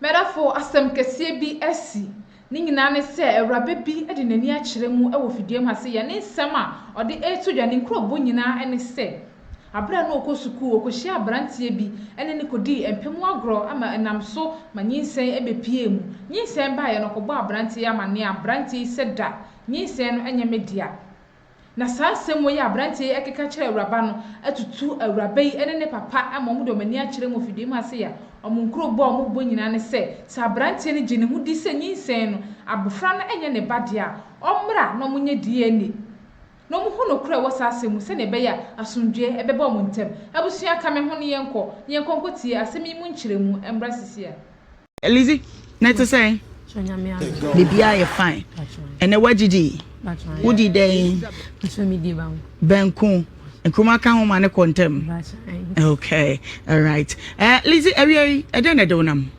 M'adɔfo, asɛm kɛseɛ bi asi. Ne nyinaa ne sɛ awuraba bi de n'ani akyerɛ mu wɔ fidua mu ha sɛ yɛn ne nsɛm a ɔde reto dwa ne nkurɔbo nyinaa ne sɛ berɛ a na ɔkɔ sukuu, ɔkɔhyiaa abranteɛ bi ne no kɔdii mpɛ mu agorɔ ma ɛnam so ma nyinsɛn bɛpuee mu. Nyinsɛn baeɛ no ɔkɔbɔɔ abranteɛ yi amanneɛ a abranteɛ yi sɛ da nyinsɛn no nyɛ me dea. Na saa nsɛmmo yi a aberanteɛ yi ɛkeka kyerɛ awuraba no atutu awuraba yi ne ne papa ama wɔn de wɔn ani akyerɛ mu afidie mu ase ya. Wɔn nkuro bɔ a wɔn bɔ nyinaa ne sɛ, sɛ aberanteɛ no gye ne ho di sɛ nyinsɛn no, abofra no nyɛ ne ba deɛ a, ɔmmra na wɔn nyɛ DNA na wɔn hu nokorɛ a ɛwɔ saa asɛm mu sɛdeɛ ɛbɛyɛ a asomdwoeɛ bɛba wɔn ntam. Abusua ka me ho ne yɛnkɔ, na yɛnkɔ nkɔtie asɛm yi mu nkyerɛmu mmra sisi a. Lizzy, na ɛte sɛn? Biribiara yɛ fine. Ɛnɛ woagyidi? Wodi dɛn? Banku. Nkruma ka ho ma ne kɔ ntɛm. Okay, all right. Uh, Lizzy, awia yi, ɛdɛn na ɛde wo nam?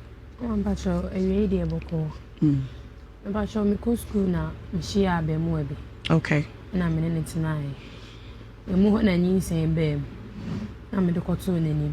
Mpakyɛ, awia yi deɛ bɔkɔɔ. Mpakyɛ, mekɔ sukuu na mehyia abɛɛmoa bi. Okay. Na me ne no tenaeɛ. Ɛmu hɔ na nyinsɛn baa mu. Na mede kɔtoo n'anim.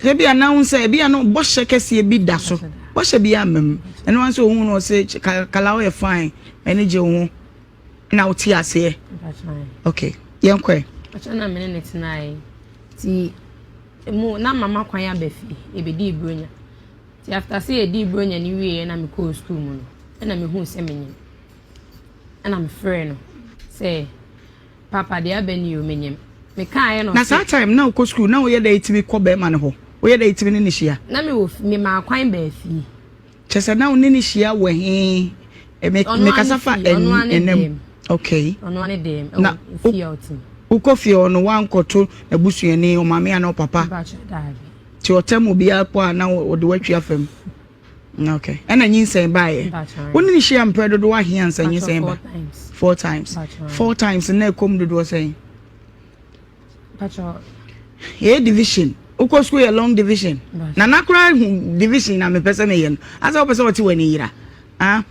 Ebia na wohu sɛ ebia no bɔhyɛ kɛseɛ bi da so. Bɔhyɛ bi amma mu. Ɛno ara nso ohun no ɔse kala ɔyɛ fine. M'ani gye wo ho. Na wote aseɛ. Okay. Yɛn kɔ ɛ. Akyɛ na mene ne tenae. Ti mu na mama kwan aba fie. Ebedi bronya. Ti after sɛ yɛdi bronya ne wie na mekɔɔ school mu no. Ɛna mehu sɛ menyim. Ɛna mefrɛ no sɛ. Papa deɛ abɛ ni o menyem me kaa yɛ no ɔse. Na saa time na wokɔ school na woyɛ dɛn tumi kɔ bɛɛma no hɔ woyɛ dɛn tumi ne no hyia. Na me wɔ me maa kwan baa fie. Kyɛ sɛ na wo ne no hyia wɔ he me me kasa fa ɛnam okay na wokɔ fie hɔ no wankɔ to na busuani ɔmaame ana ɔpapa. Ti ɔtam obiara kɔ a na ɔde watwi afam. Ok. Ɛna nyinsɛn baeɛ. Wo ne no hyia mprɛ dodoɔ ahe ansa nyinsɛn ba? Four times. Four times na ɛkɔm dodoɔ sɛn? Yɛyɛ division. Wokɔ sukuu yɛ long division. Na na koraa hu division na mepɛ sɛ meyɛ no. Asɛ wopɛ sɛ ɔte w'ani yera. Ah,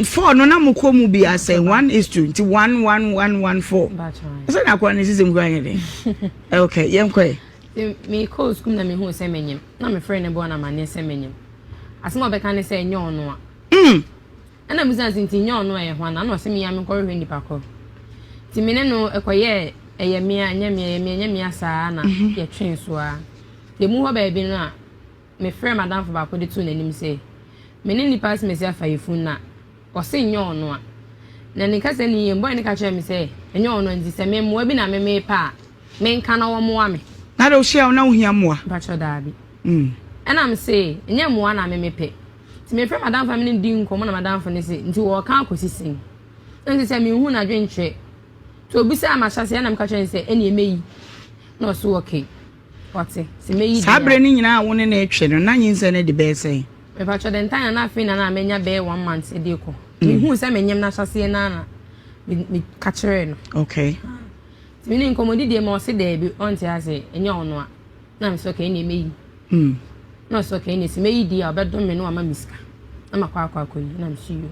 four no na mokɔ mu bi asɛ one is two nti one one one one four. Sɛ na akora ne sisi mu koraa nyɛ den. Ok, yɛnkɔɛ. Mekɔɔ sukuu na mehu sɛ menyim. na mefrɛɛ ne boa no amanneɛ sɛ manyam. Asɛm a ɔbɛka ne sɛ, Nyɛ ɔno a. Mm! Ɛnna mibisa no sɛ, Nti nyɛ ɔno a ɛyɛ hwan? Ɛnna ɔse, Mia menkɔhwehwɛ nnipa koro. Nti me ne no kɔyɛɛ ɛyɛ me a, ɛnyɛ me a, ɛyɛ me a, ɛnyɛ me a saa ara na yɛtwee so ara. Yɛmmu hɔ baabi no a, mefrɛɛ m'adamfo baako de too n'anim sɛ, Me ne nnipa asimasi afa yɛn funu no a, Ɔse nnyɛ ɔno a. Na ne kasa ni yie. Boy no ka kyerɛɛ me sɛ ɛnyɛ ɔno a nti sɛ me mmoa bi na me mepɛ a me nka na wɔmmoa me. Na dɛ wohyia wo na wohia mmoa? Mpakyɛw daabi. Ɛna me se nnyɛ mmoa na me mepɛ. Nti me frɛ m'adamfo na me ne no di nkɔmmɔ na m'adamfo no se nti wɔɔka akɔsi sɛn? Na nti sɛ me nhu n'adwenkyerɛ. Nti obisaa m'ahyɛseɛ ɛna me ka kyerɛɛ no sɛ ɛneɛ mɛyi na ɔse okay. Saa berɛ no nyinaa a wo ne no retwɛn no, na nyinsɛn no adi bɛyɛ sɛn? Mepakyɛ dɛ ntaa na na afei na na manya bɛyɛ one month ɛde rekɔ. Mehuu sɛ menyem no ahyɛseɛ no ara na meka kyerɛɛ no. Okay. Nti me ne nkɔmmɔdi deɛ ma ɔse daabi ɔnte aseɛ ɛnyɛ ɔno a na mese okay ɛnneɛ mɛyi. Hmm. Na ɔse okay ɛnneɛ sɛ mɛyi deɛ a ɔbɛdom me na wama me sika na makɔ akɔ akɔyi na mese yoo.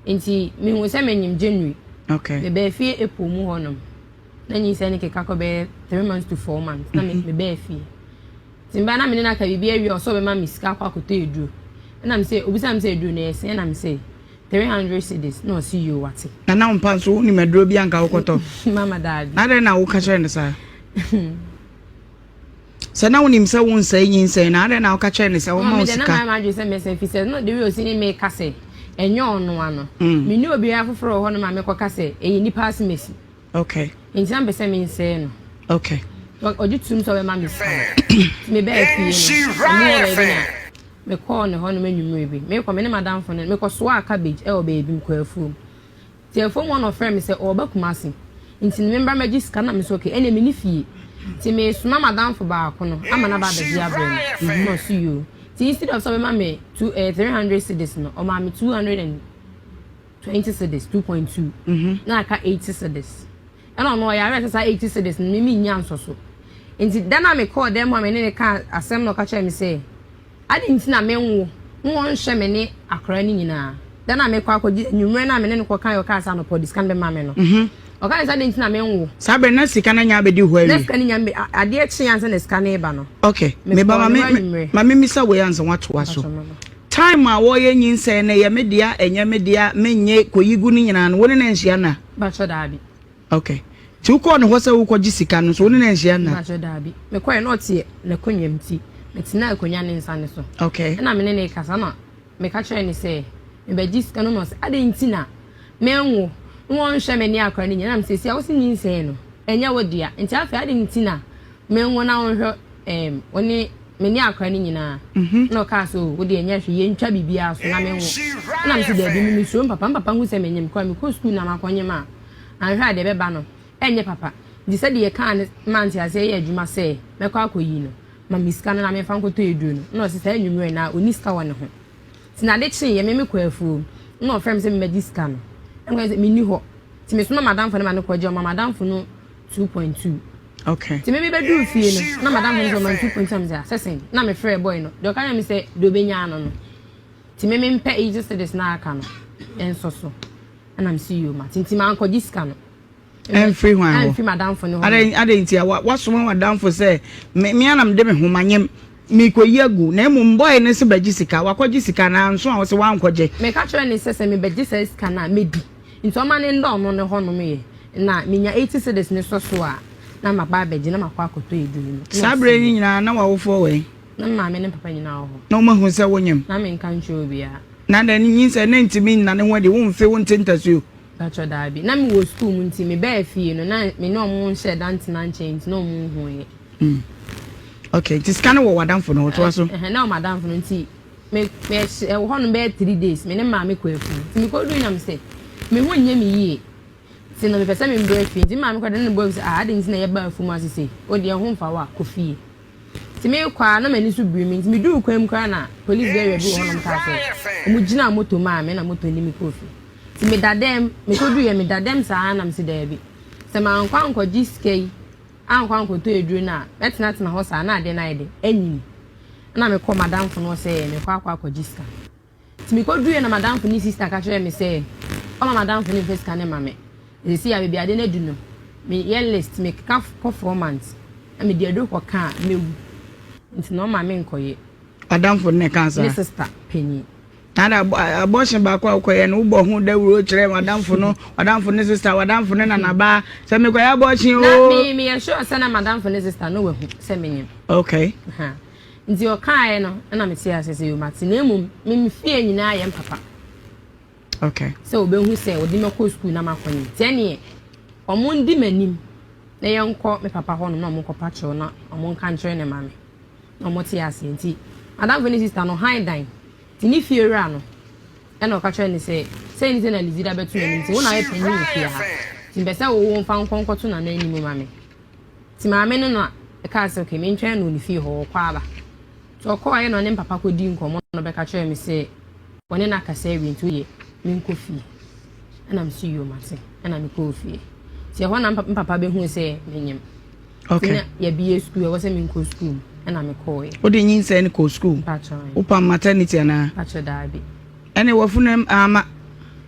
Nti mehu sɛ menyem January. Okay. Mebaa fie April mu hɔnom. Na nyinsɛn no keka kɔ bɛyɛ three months to four months na mhm. mebɛɛ fie nti mebaa na mene no aka biribi awie ɔsɛ ɔbɛma me sika akɔ akɔtɔ aduro ɛna me sɛ obisa me sɛ aduro no ɛsɛ ɛna me sɛ three hundred cedis na ɔse yio wate na na wompa nso wonim aduro bi anka wokɔtɔ mama daabi na dɛn na woka kyerɛ no saa Sɛ na wonim sɛ wonsɛe nyinsɛn no, adɛn na woka kyerɛɛ no sɛ ɔmma wo sika? Mama m'adwene sɛ mɛsan fi sɛ na the way osi ne meka sɛ ɛnyɛ ɔno ano. Mm. Me ne obiara foforɔ wɔ hɔ no ma mekɔka sɛ ɛyɛ nipa asemasi. Okay. Nti na mpɛ sɛ mensɛe no. Okay. Ɔgye tum sɛ ɔbɛma me sika no. Mebɛɛ fie no, ɔmo wɔ baabi na mekɔɔ ne hɔ nom anwummere bi. Mekɔ me ne madamfo no mekɔsoaa cabbage ɛwɔ baabi mekɔɔ afuom. Telefon mu hɔ na ɔfrɛɛ me sɛ ɔreba Kumasi nti no membra mmɛgye sika na mese ok ɛnneɛ menni fie nti mesoma m'adamfo baako no ama no aba abɛgye abrɛ me mehuu aso yoo nti instead of sɛ ɔbɛma me two ɛɛ three hundred cedis no ɔmaa me two hundred and twenty cedis two point two na aka eighty cedis ɛna ɔno ɔyɛ aware sɛ saa eighty cedis no me mennya nsɔ so nti da no a mekɔɔ dan mu a me ne no kaa asɛm na ɔka kyerɛɛ me sɛ Adɛn nti na menwo na wɔnhwɛ me ne akwadaa no nyinaa? Da no a mekɔ akɔgye anwummerɛ no a me ne no kɔkaeɛ ɔkaa sɛ anɔpa ɔde sika no bɛma me no, ɔkaeɛ sɛ adɛn nti na menwo? Saa berɛ no na sika no anya abɛdi hɔ awie. Na sika no nya mbe adeɛ kyeeɛ ansa na sika no reba no. Ok, me ba ma me ma me mmisa wei ansa woatoa so. Time a wɔreyɛ nyinsɛn no ɛyɛ me dea ɛnyɛ me dea menyɛ kɔyi gu no nyinaa no wo ne no anhyia nna? Mpakyɛw daabi. Ok. Nti wokɔɔ ne hɔ sɛ worekɔgye sika no nso wo ne no anhyia nna? Mpakyɛw, daabi. Mekɔe na ɔte n'akonnwa mu nti, metenaa akonnwa no nsiane so. Ok. Ɛnna me ne no rekasa na meka kyerɛɛ no sɛ mebɛgye sika no na ɔse adɛn nti na menwo na wɔnhwɛ me ne akwadaa no nyinaa. Ɛnam seesei a wose nyinsɛn no, ɛnyɛ wo dea nti afei adɛn nti na menwo na wonhwɛ ɛɛm wo ne me ne akwadaa no nyinaa. Ɛnna ɔkaa sɛ oh, wo deɛ nyɛ hwee, yɛntwa biribiara so na menwo. Ɛnna mese daabi, me mesuro me papa. Me papa hu sɛ menyem koraa, mekɔ sukuu na makɔnyem a, anhwɛ a deɛ ɛbɛba no ɛnyɛ papa, nti sɛdeɛ yɛkaa no maa nteaseɛ yɛɛ adwuma sɛ mɛkɔ akɔyi no ma me sika no na memfa nkɔtɔ aduro no, na ɔse saa anwummerɛ no ara ɔnni sika wɔ ne ho. Nti na ade kyeeɛ me mekɔɔ afuom na ɔfrɛɛ me sɛ memmɛgye sika no, na mekae sɛ menni hɔ, nti mesoma m'adamfo no ma no kɔgye, ɔmaa m'adamfo no two point two. Okay. Nti me mebɛduru fie no na m'adamfo no sɛ ɔma no two point two na me sɛ ah sɛ sɛn, na mefrɛɛ boy no, deɛ ɔka kyerɛɛ me sɛ deɛ ɔbɛnya ano no, nti me mempɛ eighty cedis no a aka no nso so. Ɛna me se yoo mate nti mankɔgye sika no. Ɛmfiri hwan hɔ? Ɛmfiri m'adamfo no hɔ. Adɛn nti a wasoma w'adamfo sɛ mmea na mede me ho ma nyem mekɔyi agu na mmom bɔe ne se bɛgye sika wakɔgye sika na nso a wo se wankɔgye. Meka kyerɛ ne sɛ sɛ mebɛgye saa sika no a mɛdi nti ɔma ne nna ɔno ne hɔnom yɛ na menya 80 cedis ne sɔ so a na maba abɛgye na makɔ akɔtɔ aduro no. Saa berɛ yi nyinaa na w'awofoɔ wɔ he? Na me maame ne me papa nyinaa wɔ hɔ. Na wɔahu sɛ wonyem? Na menka nkyerɛ obiara. Na na ne nyinsɛn no ntumi nna ne ho adi, wo mfe, wo nte ntasuo. Mpakyɛ daabi. Na me wɔ sukuu mu nti me bɛɛ fie no na me ne ɔmo nhyɛ da ntena nkyɛn nti na ɔmo nhu yɛ. Mm ok nti sika no wɔ wɔ adamfo no hɔ toa so. Ɛhɛn na wɔ m'adamfo no nti me me ɛhyɛ ɛwɔ hɔ nom bɛyɛ three days me ne maame kɔ afie nti me kɔ duu na me sɛ me ho nyɛ me yie nti no me pɛ sɛ me brɛ fie nti me maame kɔ de ne bɔ mu sɛ ah adeɛ nti na yɛ ba afum ase sei o deɛ ho nfa wo a kɔ fie. Nti meekɔ a na m'ani so biri me nti meduu kwan mu koraa na polis bɛɛwɛ bi wɔ hɔnom kaa sɛ ɔmo gyinaa moto maa me na moto de me kɔɔ fie. Nti meda dɛm, mekɔ duruiɛ meda dɛm saa na mese daabi sɛ mankɔ ankɔgye sika yi ankɔ ankɔtɔ aduro no a mɛtenatena hɔ saa na adeɛ no ayɛ dɛ anyini ɛna mekɔɔ m'adamfo no hɔ sɛ mekɔ akɔ akɔgye sika. Nti mekoduruiɛ na madamfo ne sister ka kyerɛɛ me sɛ ɔma madamfo no mfa sika no mma me. Na seesei a baabi ade no adu no, meyɛ list, mekeka kɔ four months na mede aduro kɔka a, mɛwu. Nti na ɔma menkɔyɛ. W'adamfo no na ɛkaa saa? Me sister panin. Na ada abortion baako a wokɔyɛ no, wobɔ ho dawuro kyerɛɛ w'adamfo no, w'adamfo ne sister, w'adamfo ne nanabaa sɛ mekɔyɛ abortion oo. Na me meyɛ sure sɛ na madamfo ne sister no wahu sɛ menyɛ. Okay. Aha. Nti ɔkaaɛ no na me tee aseɛ sɛ yoo mate na mmom me me fie nyinaa yɛ mpapa okay sɛ ɔbɛhu sɛ ɔde mɛkɔ sukuu na makɔ nim nti ɛneɛ ɔmo ndi m'anim na yɛnkɔ me papa hɔ nom na ɔmo nkɔ pa kyerɛw na ɔmo nka nkyerɛ ne maame na ɔmo te aseɛ nti madamfo ne sista no han dan nti ne fie wura no ɛna ɔka kyerɛ ne sɛ sɛ ne sɛ na lizida bɛto n'anim nti wo na ayɛ panyin wɔ fie ha nti mpɛ sɛ wowo mfa nkɔ nkɔto nana anim ma me Nti maame no na ɛkaa sɛ okay mentwɛn no wɔ ne fie hɔ, ɔkɔ aba. Nti ɔkɔɔ yɛ na ɔne ne papa kɔdii nkɔmmɔ na ɔbɛka kyerɛɛ me sɛ wɔne no akasa awie nti wodeɛ menkɔ fie. Ɛna me se yoo mate. Ɛna mekɔɔ fie. Nti ɛhɔ na me papa bɛhuu sɛ menyem. Okay. Nti na yɛbie sukuu, ɛwɔ sɛ menkɔ sukuu mu. Ɛna mekɔɔeɛ. Wode nyinsɛn no kɔɔ sukuu? Mpakyɛw. Wopam maternity anaa? Mpakyɛw daabi. Ɛne w'afunuam ama.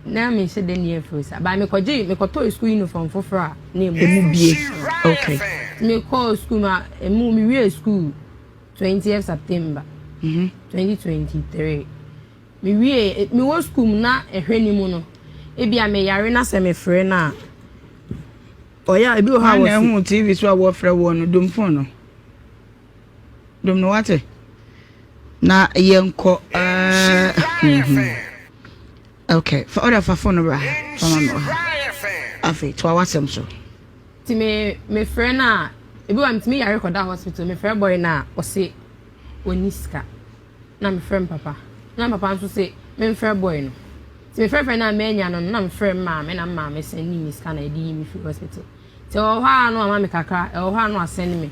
Na me nhyɛ da ni afiri sa. Ba me kɔgye me kɔtɔɔ school uniform foforɔ a na emu. Emu bie okay. Me kɔɔ school ma emu me wie school twentieth September. Mhm. Twenty twenty three. Me wie me wɔ school mu na ɛhwɛ ni mu no. Ebi a me yare na sɛ me frɛ na. Ɔyɛ ebi wɔ hɔ a wɔsi. Na ɛho TV so a wɔfrɛ wɔn no domfon no. Dom no wate na yɛnkɔ ok fa ɔda fa fon no bra fa ma me wɔ ha afei toa w'asɛm so nti me mefrɛ no a ebi wa metumi yare kɔda hospital mefrɛ bɔe no a ɔse ɔni sika na mefrɛ m papa na papa nso se memfrɛ bɔe no nti mefrɛfrɛ no a manya no na mefrɛ m maame na maame sɛne me sika na ɛde yi me firi hospital nti ɛwɔ hɔ a no ama me kakra ɛwɔ hɔ a no asɛne me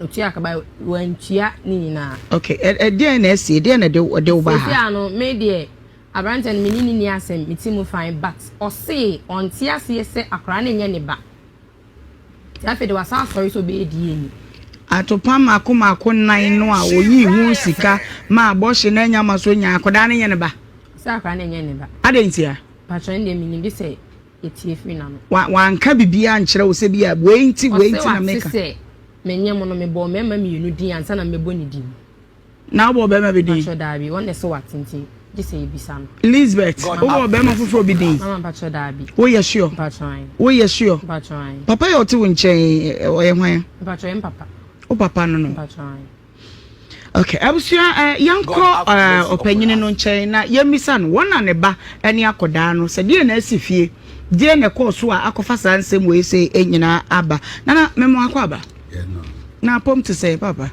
Otua ka ba wantua ne nyinaa. Okay, ɛdeɛn na ɛsi, ɛdeɛn na ɛde wo ba ha? Sisi ano, me deɛ, aberanteɛ no me ne ne ni asɛm, me ti mu fan, but ɔsee ɔnte aseɛ sɛ akwaraa no nyɛ ne ba. Nti afei de wasa asɔre sɛ ɔbɛyɛ DNA. Atopa mako mako nan no a oyii ho sika ma abɔhye na anya ma so nya akwadaa no nyɛ ne ba. Sɛ akwadaa no nyɛ ne ba. Adɛn ntia? Patro ɛndeɛ menim bi sɛ etie firi n'ano. Wa, wanka biribiara ankyerɛ wo sɛ bi a wei nti, wei nti na meka. Ɔse wate sɛ menyɛ mo no, mebɔɔ mmarima mmienu din ansa na mɛbɔ ne din. Na wobɔɔ barima bi din? Mpakyɛ daabi, ɔno na ɛse wate nti gye sɛ yɛbisa no. Lisbeth, wobɔɔ barima foforɔ bi din? Mama mpakyɛ daabi. Woyɛ sure? Mpakyɛ ae. Woyɛ sure? Mpakyɛ ae. Papa yi a ɔte wo nkyɛn yi, ɔyɛ hwan? Mpakyɛ ɔyɛ me papa. Wo papa no no? Mpakyɛ ae. Okay, abusua eh, yɛnkɔ eh, ɔpanyini no nkyɛn na yɛmmisa no wɔn na ne ba ne akɔdaa no sɛ deɛ na asi fie deɛ na ɛkɔɔ so a akɔfa saa nsɛm wei sɛ eh, nyinaa aba nana memo akɔ aba na apɔm te sɛ papa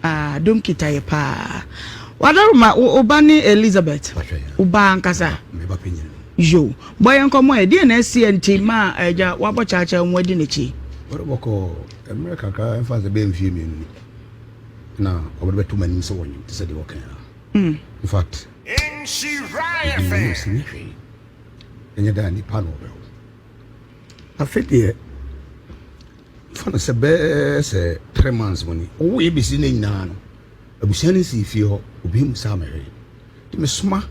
ah, dom kita yɛ paa wadaroma woba ne elizabeth woba ankasa yo bɔ yɛ nkɔmmɔ ɛ deɛ na asi nti ma agya eh, wabɔ kyaakyɛ ho adi n'akyi Mmerɛ kakra, ɛmfa sɛ ɛbɛyɛ mfeɛ mmienu ni, na wɔde bɛto m'anim sɛ wɔnwene te sɛ deɛ wɔka ara. In fact, ɛdii m'anim sɛ nyɛ hwee, ɛnyɛ dɛ a nnipa na wɔbɛwo. Afei deɛ, fa no sɛ bɛyɛ sɛ three months mu ni, wɔwoeɛ bɛsi nnɛ nyinaa no, abusua no nsii fie hɔ, obiara mmu saa mmɛhwee. Nti mesoma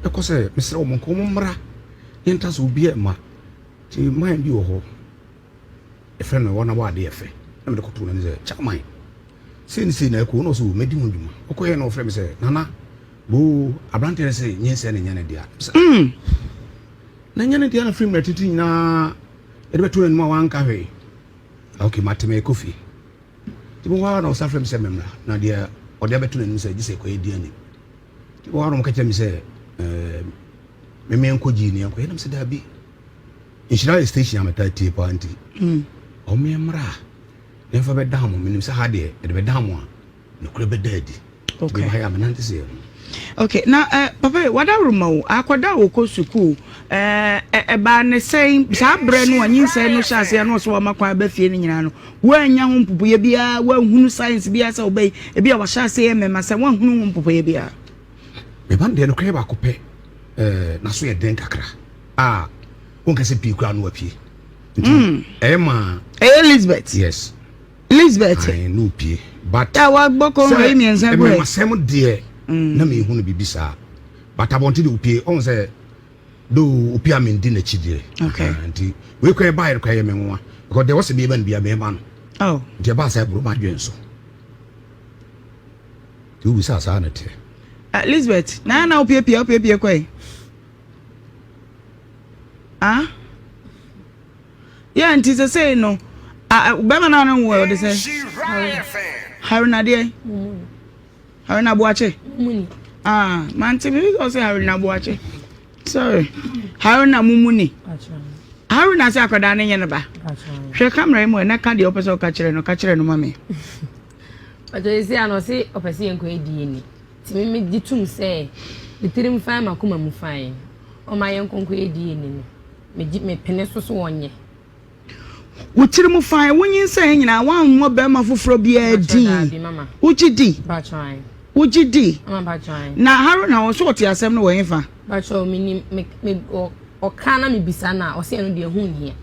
kɔ sɛ mesrɛ wɔn nka wɔmmra, yɛntra so, obiara mma. Nti mine bi wɔ hɔ. Yɛfrɛ no Wɔn a Wɔn Ade Yɛ Fɛ na mede kɔtoo n'anim sɛ, Chairman, sei ne sei na ɛrekɔ o, na ɔse o, mɛdi ho dwuma. Ɔkɔeɛ na ɔfrɛɛ me sɛ, Nana, boo, aberanteɛ no se nyinsɛn na ɛnyɛ ne dea. Mese, Umm! Na ɛnyɛ ne dea na firi mmerɛ tete nyinaa yɛde bɛtoo n'anim a wanka hwee? Na ok, mate, merekɔ fie. Nti ɛbɛhɔ ara na ɔsan frɛ me sɛ memmra, na deɛ ɔde abɛto n'anim sɛ gye sɛ ɛkɔ yɛdi anim. Nti ɛbɛhɔ ara na ɔka kyerɛ me sɛ, Ɛɛm, me menkɔ gyee ni yɛnkɔyɛ. Na mese, Daabi. Nhyira yɛ station a metaa tie paa nti ɔmo mmra na ɛmfa bɛdan mo menim sɛ ha deɛ ɛde bɛdan mo a nokorɛ bɛda adi nti bɛba ha yɛ a menante sɛ ɛho. ok na eh, papa yi wadaworoma o akɔda a wɔkɔ sukuu eh, ɛbaa eh, ne sɛn saa berɛ no a nyinsɛn no hyɛ aseɛ no ɔsɛ wama kwan aba fie no nyinaa no woannya ho mpopoeɛ biara woanhunu science biara sɛ wobɛyi ebi a wahyɛ aseɛ yɛ mmɛma sɛ woanhunu ho mpopoeɛ biara meba no deɛ nokorɛ baako pɛ eh, naso yɛ den kakra a wonka sɛ pii koraa no wapie nti mm. ɛyɛ ma ɛyɛ elizabeth yes elizabeth ayi no pie but a wagbɔ kɔnkɔ yi mmiɛnsa gu ɛ ɛmɛmasɛm deɛ mm. na mehu no biribi saa but abɔnten de opie ɔhu sɛ do opie a mendi n'akyi deɛ nti wei kora ɛba yɛre kora yɛ me nwa because deɛ wɔsɛ biɛba no bia mɛma no oh. nti ɛba sɛ ɛboro madwen so nti wobisa saa na teɛ elizabeth na na wopiepie wopiepie kɔe Ah? Yeah, nti sɛ sei no, bɛma no a no nwo ɛ, ɔde sɛ? Harina deɛ? Harina Boakye? Ah, mante me sɛ ɔsɛ Harina Boakye. Sorry. Harina Mumuni. Harina sɛ akwadaa no nyɛ no ba. Hwɛ kamera yi mu ɛ, na ka deɛ ɔpɛ sɛ ɔka kyerɛ no, ka kyerɛ no ma me. Ɔtɔ yɛ si a na ɔse ɔpɛ sɛ yɛnkɔ adie ni. Tumi me gye tom sɛ me tirim fann makoma mu fann ɔma yɛnkonko yɛ di yɛni no me gye me pene so so wɔnyɛ. Wo tiri mu fann wo nyinsɛn nyinaa woanwɔ barima foforɔ biara di wo gye di wo gye di na Haruna ɔso ɔte asɛm no wɔ he fa. Bakyɛw me nim me me ɔka na me bisa no a ɔsɛ ɛno deɛ ho nhia.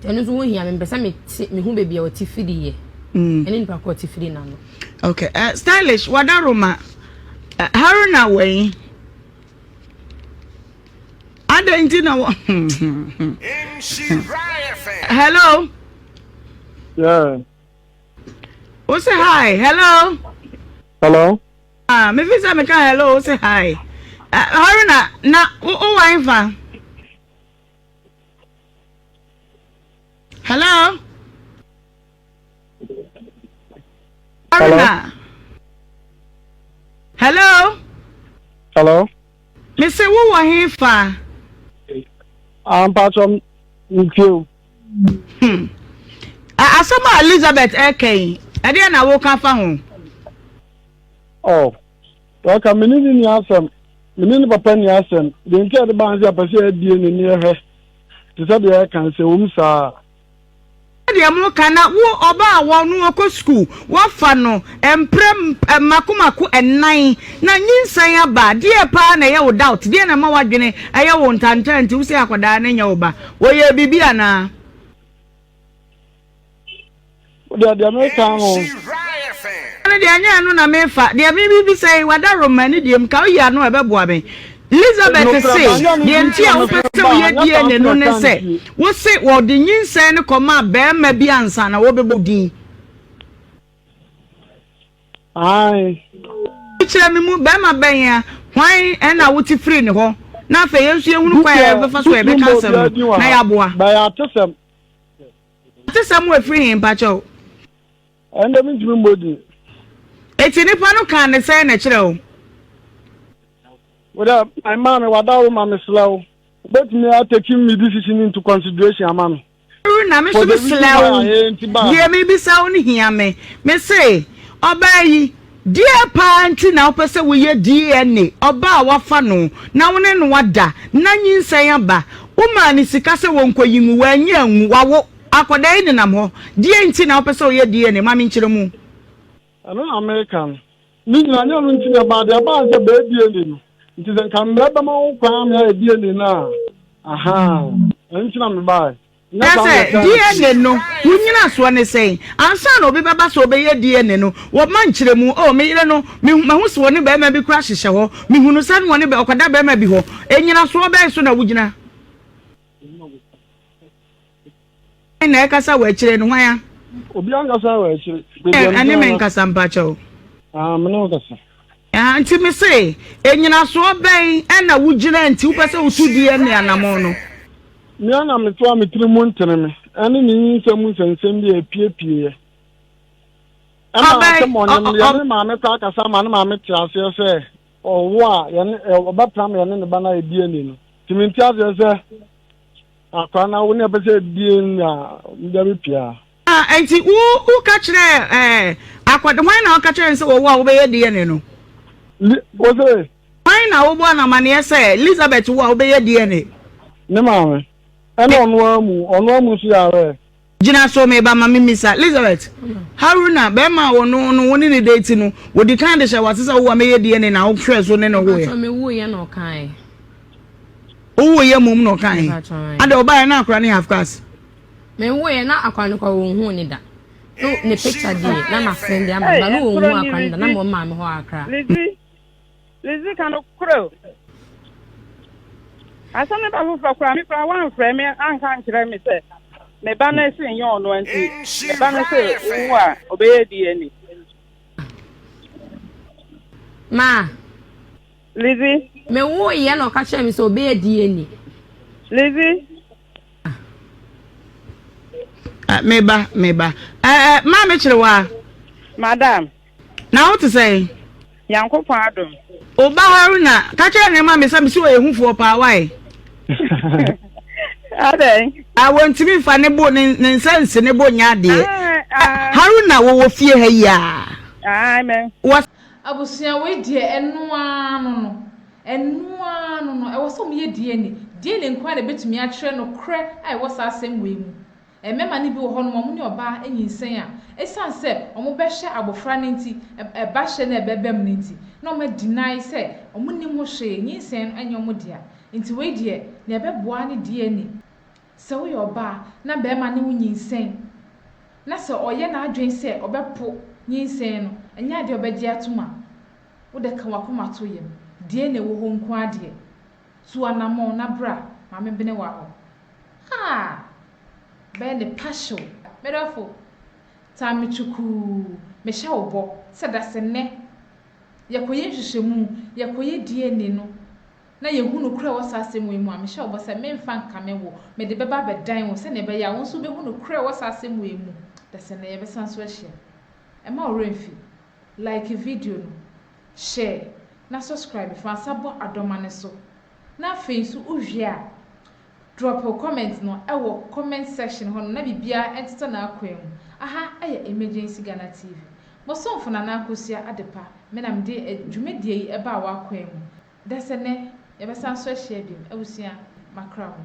Ɛno nso ho hia me, mepɛ sɛ mete mehu baabi a ɔte firi yɛ. Mm. Ɛne nipa kɔ ɔte firi n'ano. Okay, uh, stylish wada Roma uh, Haruna wɛn adɛn nti na wɔ hello yeah. wo se hi hello hello ah, mefi sɛ meka hello wo se hi uh, haruna na wowɔ ɛmfa Hello. Hello. Hello. Hello. Me se wo wɔ he fa. Ampatɔ ntie o. Hmm. Asɛm a Elizabeth ɛka yi, ɛdeɛ na woka fa ho? Oh. Ɔka me ne no nni asɛm, me ne ne papa nni asɛm. Deɛ nti a ɛde baa ne sɛ ɔpɛ sɛ yɛabue n'ani hwɛ te sɛ deɛ ɛka sɛ ɛwom saa. Sɛdeɛ moka na wo ɔba a wɔ no ɔkɔ sukuu wɔafa no mprɛ mako mako nnan na nyinsɛn aba a deɛ paa na ɛyɛ wo doubt deɛ na ɛma w'adwene ɛyɛ wo ntantaa nti wo sɛ akwadaa no nyɛ wo ba ɔyɛɛ biribi anaa? Deɛ deɛ meka no. Ɛne deɛ ɛnyɛ ɛno na mefa deɛ mebisa yi wada roma ne deɛ mu ka oyi ano ɛbɛboa me Elizabeth se deɛ nti a wopɛ sɛ woyɛ DNA no ne sɛ wose wɔde nyinsɛn no kɔmaa bɛrima bi ansa na wɔbɛbɔ din kyerɛ me mu bɛrima bɛn a hwan ɛna wote firi ne hɔ na afei yɛn nso yɛhunu kwan a yɛbɛfa so a yɛbɛka asɛm no na yɛaboa Ɔte sɛ mo efiri he mpakyɛ o? Ɛnde mi ntumi mmɔ din. Eti nipa no kaa ne sɛn na ɛkyerɛ o? Wodɛ my maame wada wo ma mesrɛ wo wobɛtumi ateki me decision into consideration ama me. Ru na me nso mesrɛ wo deɛ mebisa wo no hia me. Mese ɔbaa yi. Deɛ paa nti na wopɛ sɛ woyɛ DNA ɔbaa a woafa no na wo ne no ada na nyinsɛn aba? Womaa no sika sɛ wɔnkɔyi ngu, wannyi angu, wawo akwadaa yi nenam hɔ. Deɛ nti na wopɛ sɛ woyɛ DNA? Ma menkyerɛ mu. Ɛno na mereka no. Ne nyinaa nyɛ ɛno nti na ɛbaa. Deɛ ɛbaa ne sɛ bɛyɛ DNA no nti. Sɛ nka mmara bɛma wo kwan ma yɛayɛ DNA no a, ahaa, ɛno nti na mebaeɛ. Kyerɛ sɛ, DNA no, wo nnyinasoɔ ne sɛn? Ansa na obi bɛba sɛ ɔbɛyɛ DNA no, wɔma nkyerɛmu. Oh, me yere no, mehu, mahu sɛ ɔne barima bi kora hyehyɛ hɔ. Mehunu sɛ na ɔne bɛ, ɔkɔda barima bi hɔ. Nnyinasoɔ bɛn so na wogyina? Hwan na ɛrekasa wɔ akyire no? Hwan a. Obiara nkasa wɔ akyire. Ɛne me nkasa mpakyɛw. Ah, me ne wo kasa. Nti me se, nnyinasoɔ bɛn na wo gyina nti wo pɛ sɛ wo tu DNA anamɔn no? Mea na me toa me tiri mu ntene me ɛne ne nyinsɛn mu nsɛnsɛm bi a ɛpie pieɛ. Ɛma asɛm ɔnim no yɛne ne maame kɔ akasa ama ne maame te aseɛ sɛ ɔwo a yɛne ɔbɛtra me yɛne ne ba no ayɛ DNA no. Nti mente aseɛ sɛ akora no awo ne ɛpɛ sɛ DNA no a meda me pia. Enti wo woka kyerɛ ɛɛ akɔda hwan na ɔka kyerɛ no sɛ wɔwɔ a wobɛyɛ DNA no? Li wɔsɛ. Hwan na wobɔ no amaneɛ sɛ Elizabeth wo a wobɛyɛ DNA? Ne maame. Ɛna ɔno ara mu ɔno ara mu nso yare ɛ. Gyina so meba ma memisa. Elizabeth, Haruna bɛrima a ɔno no wo ne no date no wɔdi kan de hyɛ wo ase sɛ wowo a mɛyɛ DNA na wo hwɛɛ so ne no woeɛ? Mpakyɛ me woeɛ na ɔkaeɛ. Wo woeɛ mmom na ɔkaeɛ? Mpakyɛ. Adɛn ɔbaeɛ na akora no yɛ half caste? Me woeɛ na akwa no kɔ wɔn huu ne da no ne picture die na ma send de ama ba no wɔn huu akwa no da na mo maa me hɔ akra. Lizzy Lizzy ka no korɛ o. Asɛm ne ba foforɔ koraa me koraa wɔamfrɛ me anka nkyerɛ me sɛ me ba no ɛsɛ nyɛ ɔno nti me ba no sɛ owu a ɔbɛyɛ DNA. Ma. Lizzy. Me woeɛ na ɔka kyerɛ me sɛ ɔbɛyɛ DNA. Lizzy. Ah, me ba, me ba. Eh, eh, ma me kyerɛ wa. Madam. Na wo te sɛ? Nyankopɔn adom. O ba Haruna, ka kyerɛ ne ma me sɛ me si ɔyɛ hufoɔ paa wae. Adɛn? Ah, wɔntumi mfa ne bo ne ne nsa nsi ne bo nyɛ adeɛ. Ah, ah. Haruna wɔwɔ fie ha yi a. Ah, amen. Wɔ. Abusua wei deɛ ɛno ara no no. Ɛno ara no no, ɛwɔ sɛ wɔyɛ DNA. DNA nko ara na ebetumi akyerɛ nokorɛ a ɛwɔ saa asɛm wei mu. Mmarima no bi wɔ hɔnom a wɔne ɔbaa anyinsɛn a, esiane sɛ wɔbɛhyɛ abofra no nti, ba hyɛ no a ɛbɛbam no nti, na wɔn a deny sɛ wɔnnim ho hwee, nyinsɛn no nyɛ wɔn dea. Nti wei deɛ, nea ɛbɛboa ara ne DNA. Sɛ woyɛ ɔbaa na barima ne wo nyinsɛn, na sɛ ɔyɛ n'adwene sɛ ɔbɛpo nyinsɛn no, ɛnyɛ adeɛ a ɔbɛgye atom a, Wo dɛ ka w'akoma to yam, deɛ na ɛwɔ hɔ nko ara deɛ. Tu anamɔn na bra, ma me bene w'ahɔ. Ah! Bɛyɛ ne pahyew. Me dɔfo, tan me kyukuu, mehyɛ wo bɔ sɛ dasennɛ yɛkɔyɛ nhwehwɛmu, yɛkɔyɛ DNA no, na yɛhu nokorɛ a ɛwɔ saa asɛm wei mu a, mehyɛ wo bɔ sɛ meremfa nkame wo, mede bɛba abɛdan wo sɛdeɛ ɛbɛyɛ a wo nso wobɛhu nokorɛ a ɛwɔ saa asɛm wei mu, dasennɛ yɛbɛsan nso ahyia. Mma wo werɛ mfi. Like video no, share, na subscribe fa nsa bɔ adɔma no so. Na afei nso wo wie a, drop wo comment no wɔ comment section hɔ nom na biribiara ntetɛ n'akwan mu. Aha yɛ Emergency Ghana TV. Mo somfo Nana Akosua Adepa me na mede dwumadie yi baa w'akwan mu. Dasɛ nnɛ yɛbɛsan so ahyia biom. Abusua, makra mo.